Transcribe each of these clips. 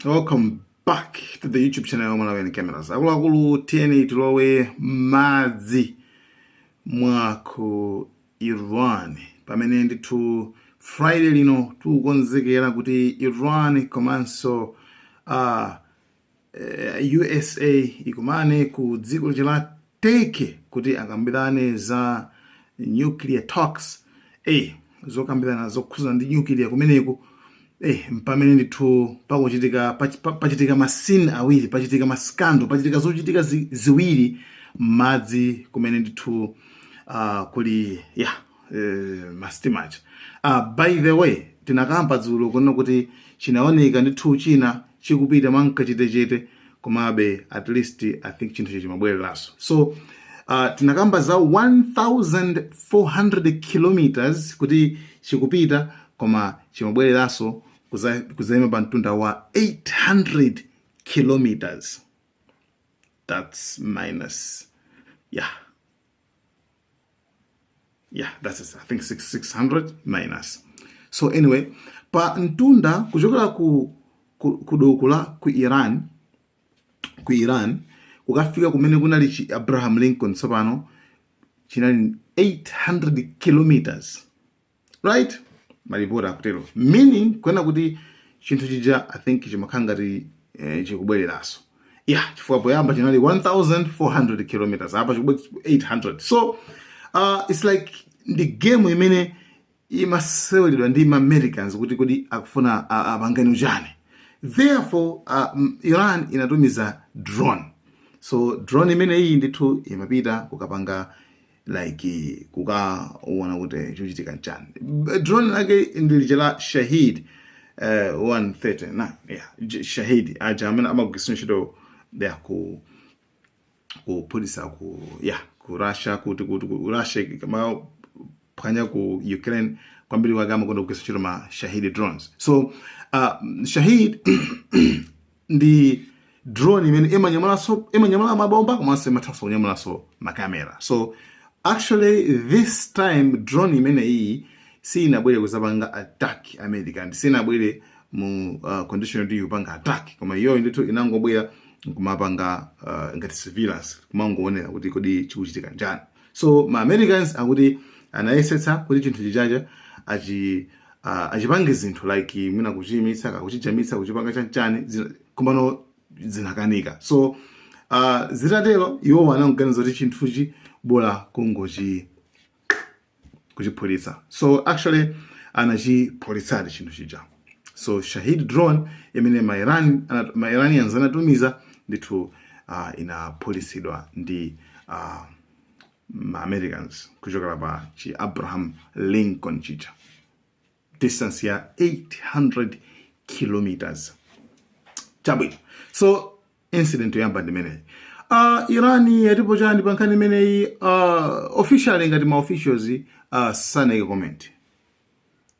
welcome back to the youtube channel ya malawi and cameras akuluakulu tiyeni tilowe m'madzi mwa ku iran pamene ndithu friday lino tikukonzekera kuti iran komanso uh, eh, usa ikumane ku dziko lija la turkey kuti akambirane za nuclear talks eh, zokambirana zokhudzana ndi nuclear kumeneku eh, mpamene ndithu pakuchitika pach- pa- pachitika masini awiri pachitika maskando pachitika zochitika zi, ziwiri m'madzi kumene ndithu uh, kuli ya eh, mastimacha uh, by the way tinakamba dzulo kunena kuti chinaoneka ndithu china chikupita mwankachetechete komabe at least i think chinthu chija chimabwereraso so uh, tinakamba za 1400 kilometers kuti chikupita koma chimabwereraso kuzaima pa mtunda wa 800 kilometers that's minus yeah yeah that's it. i think 600 minus so anyway pa mtunda kuchokera ku ku, ku doko la ku iran ku iran kukafika kumene kunali chi abraham lincoln tsopano chinali 800 kilometers right malipoti akutero meaning kuena kuti chinthu chija i think chimakhala ngati eh, chikubwereraso ya chifukwa poyamba chinali 1400 kilometers apa chikubwera 800 so uh, it's like ndi game imene imaseweredwa ndi maamericans kuti kodi akufuna uh, apangane uchani therefore uh, m- iran inatumiza drone so drone imeneyi ndithu imapita kukapanga like kukaona kuti chochitika nchani B- drone lake ndi lija la shahid uh, 139 yeah, j- shahid aja amene amagwiritsa ntchito ya ku kuphulisa ku ya ku russia kuti kuti ku russia kamaphwanya ku ukraine kwambiri wake amakonda kugwiritsa ntchito ma shahid drones so uh, shahid ndi drone imene imanyamulaso imanyamula mabomba komanso imathanso kunyamulaso makamera so actually this time drone imene iyi sinabwere kuzapanga attack america ndi sinabwere mu uh, condition yoti ikupanga attack koma iyoyo ndithu inangobwera kumapanga uh, ngati surveillance kumangoonera kuti kodi chikuchitika nchani so ma americans akuti anayesetsa kuti chinthu chijacho achi uh, achipange zinthu like mwina kuchiyimitsa kaya kuchijamitsa kuchipanga chanchani zina- komano zinakanika so uh, zitatero iwowo anangoganiza kuti chinthuchi bola kungochi kuchiphulitsa so actually anachiphulitsadi chinthu chija so Shahid drone imene ma Iran ana- ma Iranians anatumiza ndithu uh, inaphulitsidwa ndi uh, ma Americans kuchokera pa chi Abraham Lincoln chija distance ya 800 kilometers chabwino so incident yoyamba ndi imeneyi uh, iran yatipo chani pa nkhani imeneyi uh, officially ngati ma officials uh, sanayike comment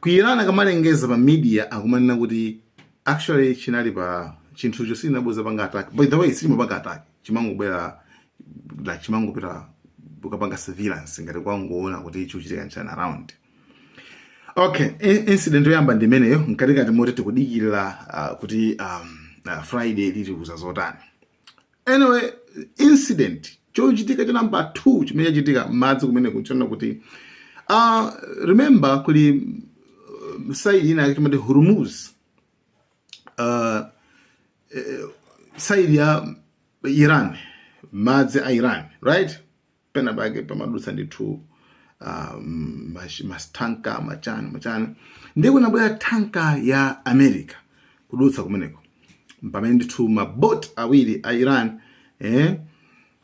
Ku Iran akamalengeza pa media akumanena kuti actually chinali pa chinthucho sichinabwere kudzapanga attack by the way sichimapanga attack chimangobwera like chimangopita kukapanga surveillance ngati kungoona kuti chikuchitika nchani around okay in- incident yoyamba ndi imeneyo mkatikati moti tikudikirira uh, kuti um, uh, friday likutiuza zotani anyway incident chochitika cha number 2 chimene chachitika madzi kumene kujako kunena kuti uh, remember kuli uh, side ina ya kuti timati hormuz uh, eh, side ya iran madzi a iran right pena pake pamadutsa ndithu ah, mm, mash- mastanka machani machani ndiye kunabwera tanka ya america kudutsa kumeneko pamene ndithu mabot awiri a iran eh,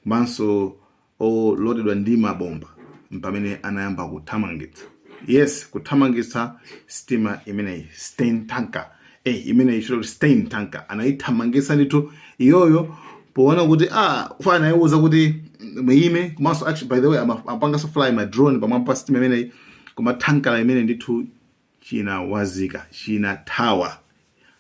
komanso olodedwa ndi mabomba mpamene anayamba kuthamangitsa yes kuthamangitsa sitima imeneyi stain tanker eh imene akuti stein tanka anaithamangisa ndithu iyoyo poona kuti amafuna anaiuza kuti muime komanso actually by the way ama- amapanganso fly ma drone pamwamba pa sitima imeneyi koma tankala imene ndithu chinawazika chinathawa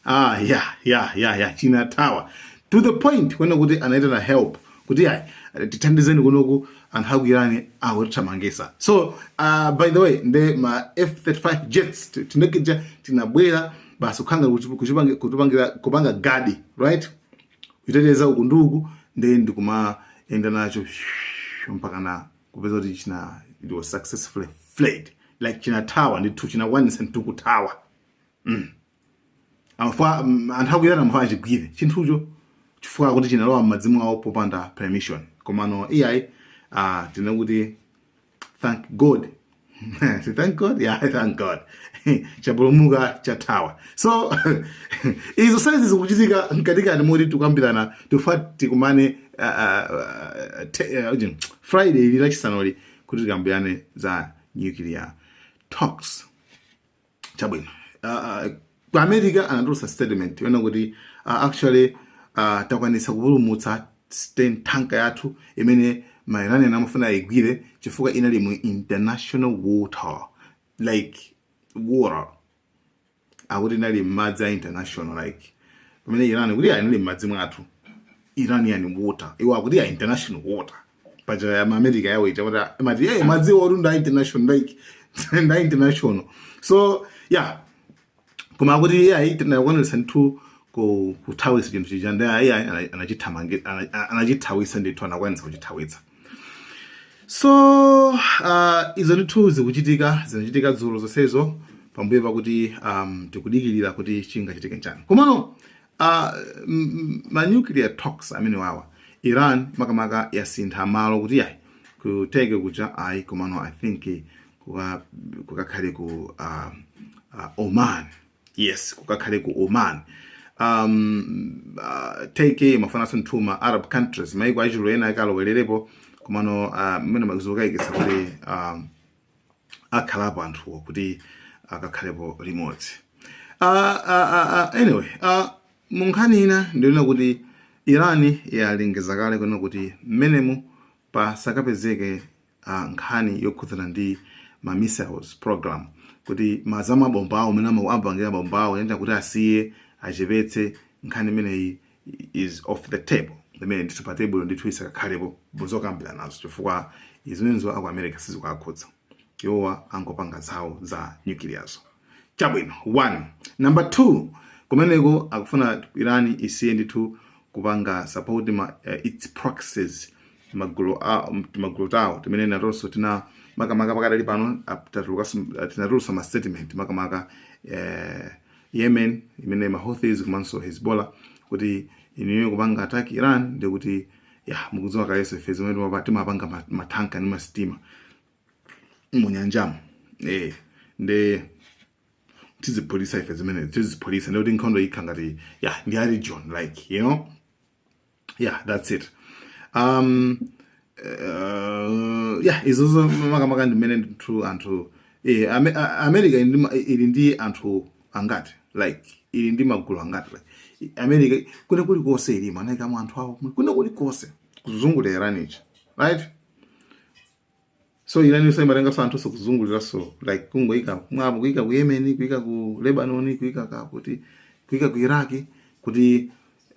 ah ya ya ya ya chinathawa to the point kunena kuti anaitana help kuti ayi tithandizeni kunoku anthu aku iran akutithamangisa so uh, by the way nde ma f35 jets ti- tindege tija tinabwera basi kukhanga kuchipangira kuchipangi, kuchipangira kupanga gadi right kuteteza uku ndi uku nde ndikumayenda nacho mpaka na kupeza kuti china it was successfully fled like chinathawa ndithu chinakwanisa ndithu kuthawa amfa mm, anthu aku iran amafuna achigwire chinthucho chifukwa chakuti chinalowa m'madzi mwawo popanda permission komano iyayi ah, tinene kuti thank god Say, thank god yeah thank god chapulumuka chathawa so izo saizi zikuchitika mkatikati moti tikukambirana tikufuna tikumane ah, ah, ah, te- ah, ujin, friday ili lachisanoli kuti tikambirane za nuclear talks chabwino uh, ku america anatulutsa statement yona kuti uh, actually uh, takwanitsa kupulumutsa tanka yathu imene mairanian amafuna ayigwire chifukwa inali mu international water like water akuti inali mmadzi a international like pamene iran kuti ayi inali mmadzi mwathu iranian water iwo akuti ya international water paja ya america yawo ija kuti amati eh, madziwa oti nda international like nda international so yeah koma akuti yeah tinakwanitsa ndithu ku kuthawisa chinthu chija ndi ayi anachithamangi anachithawitsa ndithu anakwanisa kuchithawitsa so uh, izo ndithu zikuchitika zinachitika dzulo zonsezo pambuyo pakuti um, tikudikirira kuti chingachitike njani komano A ma nuclear talks amenewawa Iran makamaka yasintha malo kuti ayi ku Turkey kuja ayi komano I think kuka kukakhale ku uh, uh, Oman yes kukakhale ku Oman um, uh, Turkey amafunanso kuti ma Arab countries maiko achiluya ena akalowererepo komano uh, mmenemo zikukayikitsa kuti um, akhalapo anthuwo kuti akakhalepo limodzi uh, uh, uh, anyway uh, munkhani ina ndionena kuti iran yalengeza kale kunena kuti mmenemo pasakapezeke uh, nkhani yokhudzana ndi ma missiles program kuti ma za mabomba awo mmene amapangira mabomba awo kapena kuti asiye achepetse nkhani imeneyi is off the table imene ndithu pa tebulo ndithu isakakhalepo muzokambiranazo chifukwa izi mzo aku america sizikuwakhudza iwowa akangopanga zawo za nyukiliyazo chabwino one number two kumeneko akufuna iran isiye ndithu kupanga support ma, uh, its proxies magulu a- m- timagulu tawo timene natonso tina makamaka pakadali pano ap- tatulukanso- tinatulutsa ma statement makamaka eh, Yemen imene ma Houthis komanso Hezbollah kuti inuyo kupanga attack Iran nde kuti ya mukudziwa kalenso ife zimene timapa- timapanga ma- matanka ndi masitima munyanjamo eh nde tiziphulitsa ife zimene tiziphulitsa nde kuti nkhondo ikhala ngati ya ndi a region like you know yeah that's it um uh, yeah izozo makamaka ndimene ndithu anthu eh, Ame- a- america ili ndi ma- ili ndi anthu angati like ili ndi magulu angati like i- america kwina kulikonse ilimo inaikamo anthu awo kwina kulikonse kuzungulira iran ichi right so Iran so imatengaso anthu so kuzunguliraso like kungoyika mawo kuyika ku yemeni kuyika ku lebanoni kuyika kakuti kuyika ku iraki kuti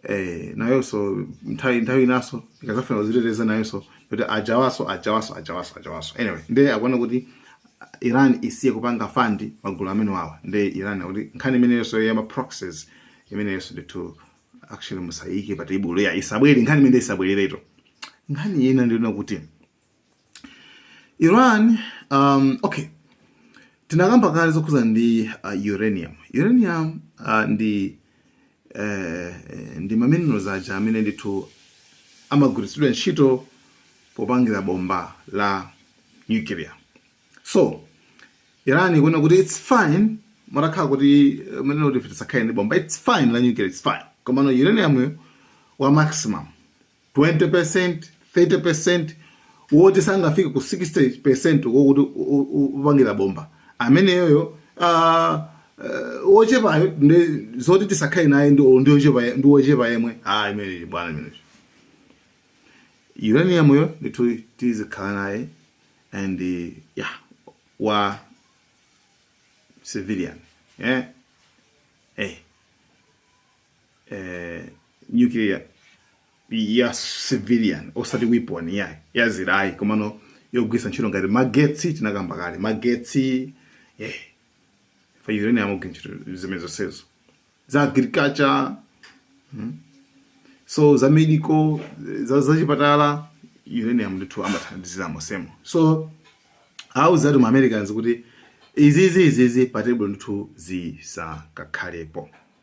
eh, nayoso nthawi nthawi inaso ikazafuna kuziteteza nayoso kuti ajawaso ajawaso ajawaso ajawaso anyway nde akuona kuti iran isiye kupanga fandi magulu amene wawa nde iran akuti nkhani imeneyonso yama proxies imeneyonso ndithu actually musayike pa table ya isabwere nkhani imene isabwerereto nkhani ina ndiona kuti Iran um, okay tinakamba kale zokhuza ndi uh, uranium uranium uh, ndi eh, ndi maminerals aja amene ndithu amagwiritsidwa ntchito popangira bomba la nuclear so Iran ikunena kuti it's fine mutakhala kuti munena kuti tisakhale ndi bomba it's fine la nuclear it's fine komano uranium wa maximum 20%, 30%, woti sangafike ku 60% wokuti u- u- u- upangira bomba ameneyoyo ah, eh, wochepayo ndi zoti tisakhale naye ndi ndi wochepa ndi wochepa yemwe ah imeneyi bwana imeneyi uranium yo ndithu tizikhala naye and eh, yeah wa civilian yeah eh eh, nuclear ya civilian osati weapon ya ya ziraye komano yogwisa ntchito ngati magetsi tinakamba kale magetsi eh fa uranium amagwira ntchito zimene zonsezo za agriculture hmm? so za medical za za chipatala uranium ndithu amathandiziramo semo so auza ati Americans kuti izizi izizi pa table ndithu zisakakhalepo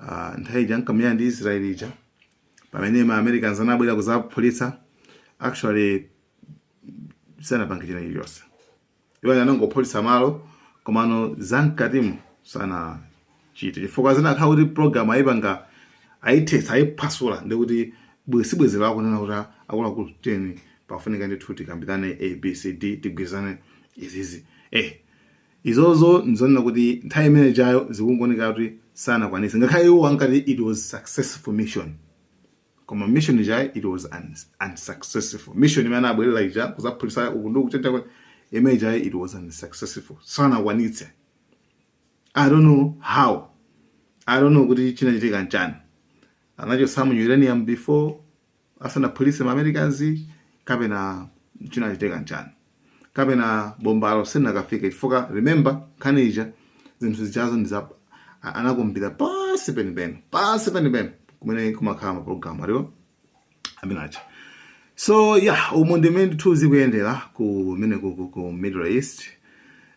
uh, nthawi ija ankamenya ndi israel ija pamene ma americans anabwera kuzaphulitsa actually sanapange china chilichonse iwo anangophulitsa malo komano zamkatimu sanachite chifukwa zinakhala kuti program ayipanga ayithetsa ayiphwasula ndikuti bwezi bwanji akunena kuti akuluakulu teni pafunika ndithu tikambirane abcd tigwirizane izizi eh Izozo nzoona kuti nthawi imene ijayo zikungooneka kuti sanakwanitse ngakhale iwo ankati it was successful mission koma mission ija it was un, unsuccessful mission imene anabwerera ija kuzaphulisa uku ndi kuchita imene ija it was unsuccessful sanakwanitse i don't know how i don't know kuti chinachitika nchani anachotsamu uranium before asanaphulitse ma Americans kapena chinachitika nchani kapena bombalo silinakafike chifukwa remember nkhani ija zinthu zijazo ndi za a- anakumbira pansi penipeni, pansi penipeni kumene kumakhala mapulogalamu ali awo amene aja so yeah umu ndi mmene ndithu zikuyendera kumene ku, ku, ku middle east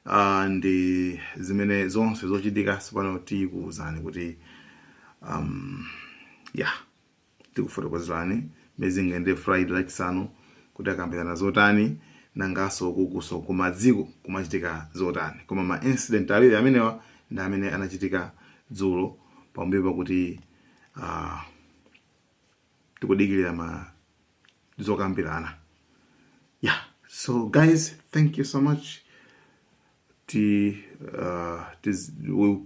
uh, ndi zimene zonse zochitika so pano tikuwuzani kuti um, yeah Tikufotokozerani mmene zingayendere Friday Lachisanu kuti akambirana zotani nangaso kukuso kumadziko kumachitika zotani koma ma incident awiri amenewa ndi amene anachitika dzulo pambuyo pakuti uh, tikudikirira ma zokambirana yeah so guys thank you so much T, uh, tis, we'll